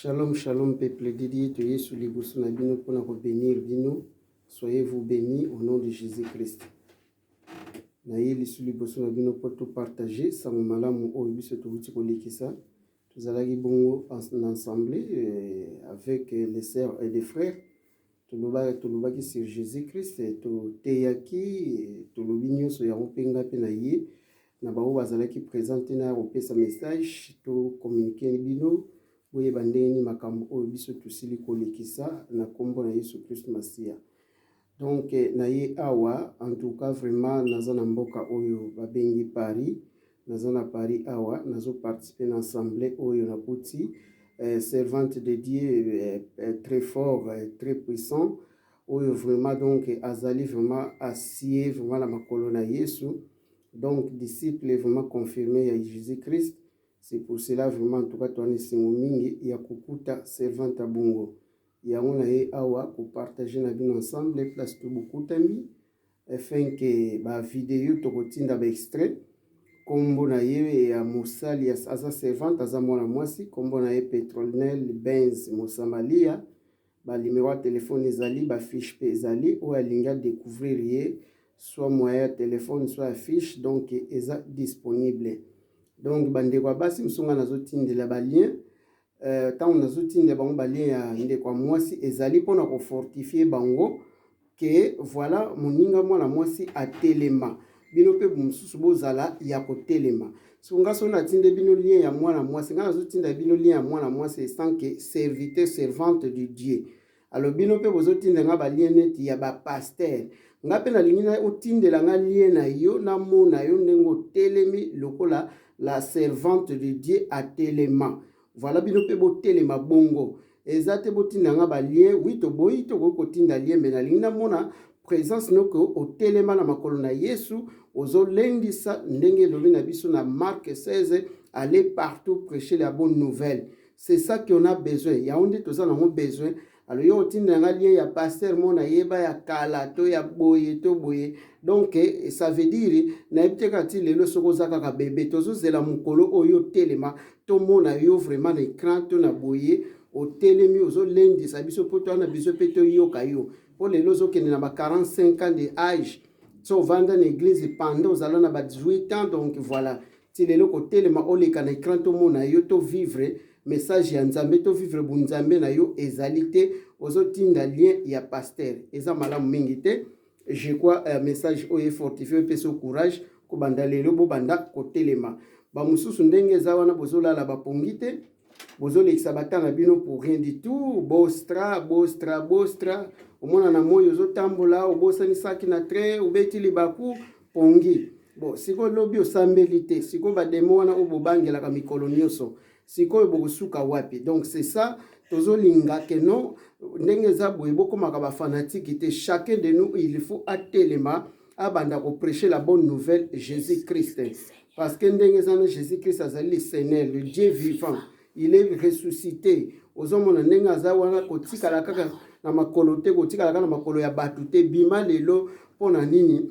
Shalom shalom peuple de Dieu to Yesu liboso na bino mpo na ko benir bino soyez vous béni au nom de Jésus Christ na ye lisu liboso na bino mpo to partager sango malamu oyo biso towuti kolekisa tozalaki bongo na ensemble euh, avec les sœurs et les frères Tolobaki, tolobaki sur Jesus Christ, toteyaki, tolobi nionso yango pe ngai pe na ye, na baoyo bazalaki present ti naya kopesa message, to communique bino, boyeba ndenge nini makambo oyo biso tosili kolekisa na kombo na Yesu Christ Masiya. Donc naye awa, en tout cas vraiment naza na mboka oyo babengi Paris, Naza na Paris awa nazo participer na ensemble oyo nakuti servante de Dieu très fort très puissant oyo vraiment donc azali vraiment asie vraiment na makolo na Yesu donc disciple vraiment confirme ya Jesus Christ c'est pour cela vraiment en tout cas toani esengo mingi ya kokuta servante ya bongo yango na ye awa kopartage na bino ensemble place tobokutami Afin que ba video toko tinda ba extrait kombo na ye ya mosali aza servante aza mwana mwasi kombo na ye Petrolnel Benz Mosamalia ba numero ya telefone ezali ba fiche pe ezali oyo alingi a decouvrir ye soit moyen ya telefone soit ya fiche donc eza disponible donc bandeko ya basi mosunga nazotindela balien Euh tango nazo tinda bango ba lien ya ndeko ya muasi ezali pona ko fortifier bango que voilà moninga mwana muasi atelema bino pe mosusu bozala ya kotelema. Siko nga soki natinde bino lien ya mwana mwasi nga nazotinda bino lien ya mwana mwasi esanke serviteur servante de Dieu Alors bino pe bozo tinda nga ba lien neti ya ba pasteur. Nga pe nalingi na otindela nga lien na yo na mona yo ndenge otelemi lokola la servante de Dieu a telema. Voilà bino pe botelema bongo. Eza te botinda nga ba lien. Oui toboyi tokoki kotinda lien mais nalingi na mona presence noko otelema na makolo na Yesu ozolendisa ndenge elobi na biso na Marc 16 aller partout prêcher la bonne nouvelle. C'est ça qu'on a besoin. Yango nde toza nango besoin. Alors yo otinda nga lien ya pasteur mo na yeba ya kala to ya boye to boye. Donc eh, ça veut dire na yebite kaka ti lelo soko oza kaka bebe. Tozo zela mukolo oyo telema to mona yo vraiment na écran to na boye otelemi ozo lendisa biso po to na biso pe to yoka yo. Po lelo ozo kende na ba 45 ans de âge. So vanda na église pendant ozala na ba 18 ans donc voilà. Ti lelo ko telema oleka na ecran to mona yo to vivre message ya nzambe to vivre bu nzambe na yo ezali te ozo tinda lien ya pasteur eza malamu mingi te je crois uh, message oyo efortifie epesi o courage kobanda lelo bobanda kotelema bamosusu ndenge eza wana bozolala bapongi te bozolekisa bata na bino pour rien du tout bostra bostra bostra omona na moi ozotambola obosani saki na train obeti libaku pongi bon sikoyo lobi osambeli te sikoyo bademo wana oyo bobangelaka mikolo nyonso sikoyo bokosuka wapi donc c'est ça tozolinga ke non ndenge eza boye bokomaka bafanatiki te chacun de nous il faut atelema abanda ko prêcher la bonne nouvelle Jésus Christ parce que ndenge eza na Jésus Christ azali le Seigneur le Dieu vivant il est ressuscité ozomona ndenge aza wana kotikala kaka na makolo te kotikala kaka na makolo ya bato te bima lelo mpo na nini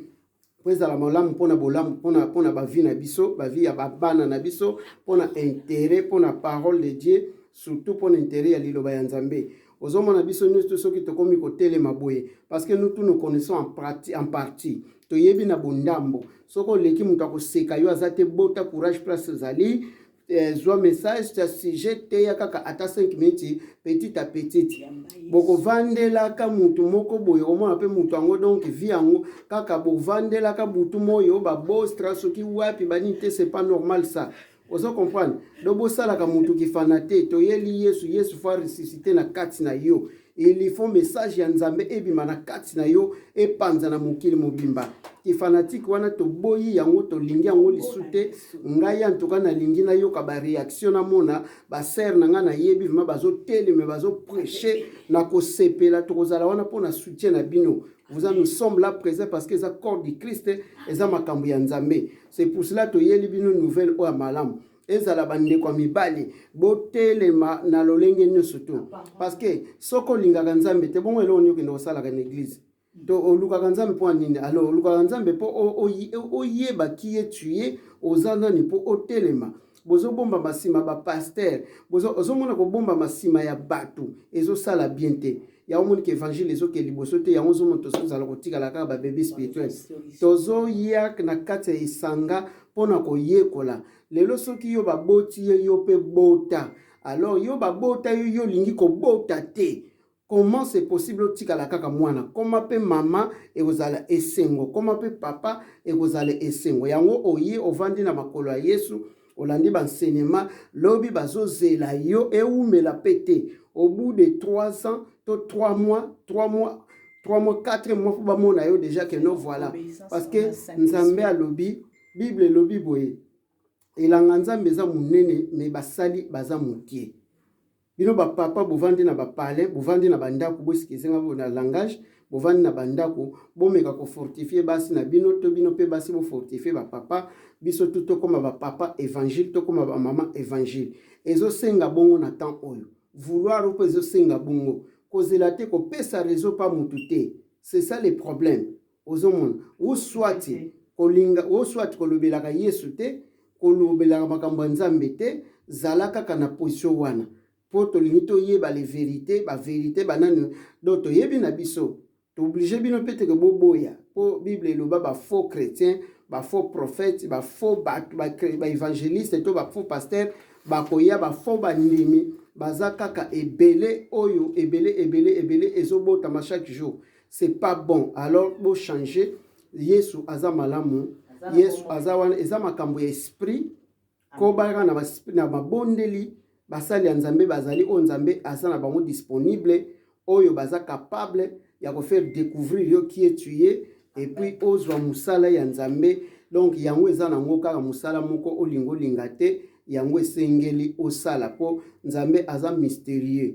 mpo ezala malamu mpo na bolamu mpo na bavi na biso bavi ya babana na biso mpo na interet mpo na parole de dieu surtout mpo na interet ya liloba ya nzambe Ozomona biso nyoso soki tokomi kotelema boye parce que nous tous nous connaissons en partie, en partie. toyebi na bondambo soki oleki moto akoseka yo aza te bota courage place ozali eh, zwa message ta sujet teya kaka ata 5 minutes petit à petit bokovandelaka motu moko boye omona mpe motu yango donc vi yango kaka bovandelaka butu moyo babostra soki wapi banini te c'est pas normal ça Ozo comprendre? Donc bosalaka mutu ki fana te. Toyeli Yesu, Yesu faut ressusciter na kati na yo. Il faut message ya Nzambe ebima na kati na yo epanza na mokili mobimba. Ki fanatique wana toboyi yango, tolingi yango lisu te. Ngai en tout cas nalingi nayoka ba reaction na mona ba sœur na ngai nayebi vraiment bazo teleme bazo prêcher na kosepela tokozala wana mpo na soutien na bino. Vous nous sommes là présent parce que eza corps du Christ, eza makambo ya Nzambe. C'est pour cela toyeli bino nouvelle oyo ya malamu ezala bandeko ya mibali botelema na lolenge nyonso to parce que soki olingaka nzambe te bongo eloko nini okende kosalaka na eglise to olukaka nzambe mpo ya nini alors olukaka nzambe mpo oyeba kiye tuye oza nani mpo otelema bozobombama nsima bapaster ozomona kobombama nsima ya bato ezosala bien te yango omoni ke évangile ezoke liboso te yango ozomona tozozala kotikala kaka babebe spirituel tozoya na kati ya esanga mpo na koyekola lelo soki yo baboti ye yo mpe bota alors yo babota yo yo olingi kobota te Comment c'est possible otikala kaka muana koma pe mama ekozala esengo koma pe papa ekozala esengo yango oye ovandi na makolo ya yesu olandi ba enseignement lobi bazozela yo ewumela pe te au bout de trois ans to trois mois trois mois trois mois quatre mois po bamona yo dejà que no voilà parce que nzambe alobi bible elobi boye elanga nzambe eza monene mais basali baza mokie Bino ba papa bovandi na ba palais, bovandi na ba ndaku, bo excusez nga pona langage, bovandi na ba ndaku, bomeka ko fortifier basi na bino to bino pe basi bo fortifier ba papa, biso tout tokoma ba papa evangile, tokoma ba mama evangile. Ezo senga bongo na temps oyo. Vouloir pe ezo senga bongo. Kozela te, kopesa raison pa mutu te. C'est ça le problème. Ozomona? Ou soit kolinga, ou soit kolobelaka Yesu te, kolobelaka makambo ya Nzambe te, zala kaka na position wana. Po tolingi toyeba les verites, ba verites ba nani? Donc toyebi na biso. To obliger bino pe te que boboya. Po Bible eloba ba faux chretiens, ba faux prophètes, ba faux batu, ba, ba evangelistes to ba faux pasteurs bakoya, ba faux bandimi baza kaka ebele oyo ebele ebele ebele ezobotama chaque jour. C'est pas bon alors bo changer yesu aza malamu yesu aza wana eza makambo ya esprit kobalaka na, na mabondeli basali ya nzambe bazali oyo nzambe aza na bango disponible oyo baza capable ya kofaire découvrir yo qui est tu ye epuis ozwa mosala ya nzambe donc yango eza na yango kaka mosala moko olinga olinga te yango esengeli osala mpo nzambe aza mysterieux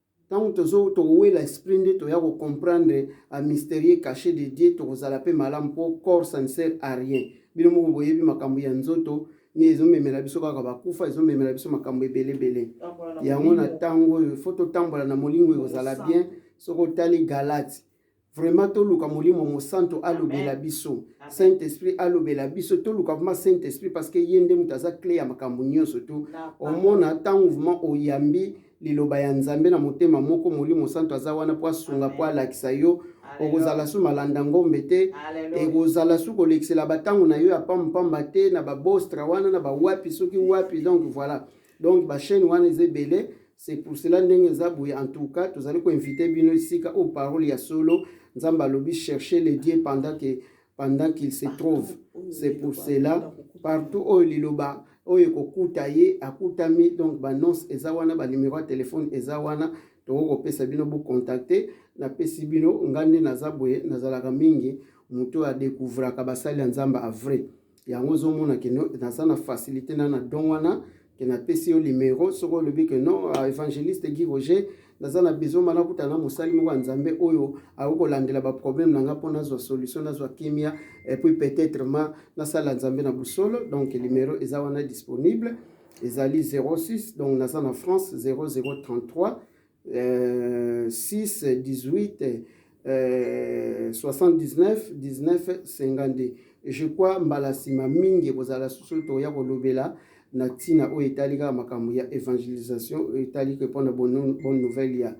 Tango tozo tokowela esprit nde toya ko comprendre a mysterieux cache de Dieu tokozala pe malamu po corps ça ne sert a rien bino moko boyebi makambo ya nzoto nde ezo memela biso kaka ba kufa ezo memela biso makambo ebele ebele yango na tango oyo faut totambola na molingo ekozala bien soki otali galate Vraiment toluka molimo mosanto alobela biso saint esprit alobela biso toluka vraiment saint esprit parce que ye nde moto aza cle ya makambo nyonso tu omona ntango vraiment oyambi liloba ya nzambe na motema moko molimo santo aza wana mpo asunga mpo alakisa yo okozala su malanda ngombe te ekozala su kolekisela bantango na yo ya pampamba te na babostra wana na bawapi soki wapi donc voilà donc ba chaîne wana eza ebele c'est pour cela ndenge eza boye en tout cas tozali koinvite bino esika oyo parole ya solo nzambe alobi chercher le dieu pendant que pendant qu'il se trouve c'est pour cela partout oyo liloba oyo ekokuta ye akutami donc banonce eza wana banimero ya telefone eza wana tokoki kopesa bino bokontakte napesi bino ngai nde naza boye nazalaka mingi moto oyo adekouvraka basali ya nzambe avrai yango ozomona ke no naza na facilité na na don wana ke napesi yo limero soki olobi ke non ah, évangéliste guy roger naza na besoin ma nakuta na mosali moko ya nzambe oyo akoki kolandela baproblème na nga mpo nazwa solution nazwa kimia epuis peut-être ma nasala nzambe na bosolo donc limero eza wana disponible ezali 06 donc naza na france 0033 6, 18, 79, 19, 52 je crois mbala nsima mingi ekozala susu tokoya kolobela na ntina oyo etali kaka makambo ya evangelisation oyo etali ke mpo na bonne nouvelle ya,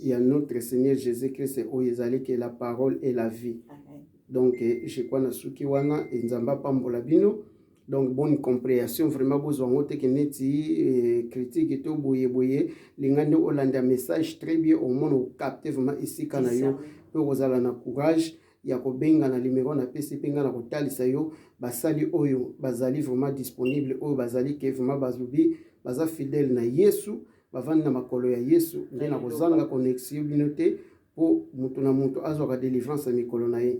ya notre seigneur jésus christ oyo ezali ke la parole et la vie donc je crois nasuki wana enzambe apambola bino donc bonne comprehension vraiment bozwa ngo teke neti eh, critique to boye boye linga nde olanda message très bien omona okapte vraiment esika na yo mpe okozala na courage ya kobenga na limero na pesi mpe ngai na kotalisa yo basali oyo bazali vraiment disponible oyo bazali ke vraiment bazubi baza fidèle na yesu bavandi na makolo ya yesu nde na kozanga connexion bino te mpo moto na moto azwaka delivrance ya mikolo na ye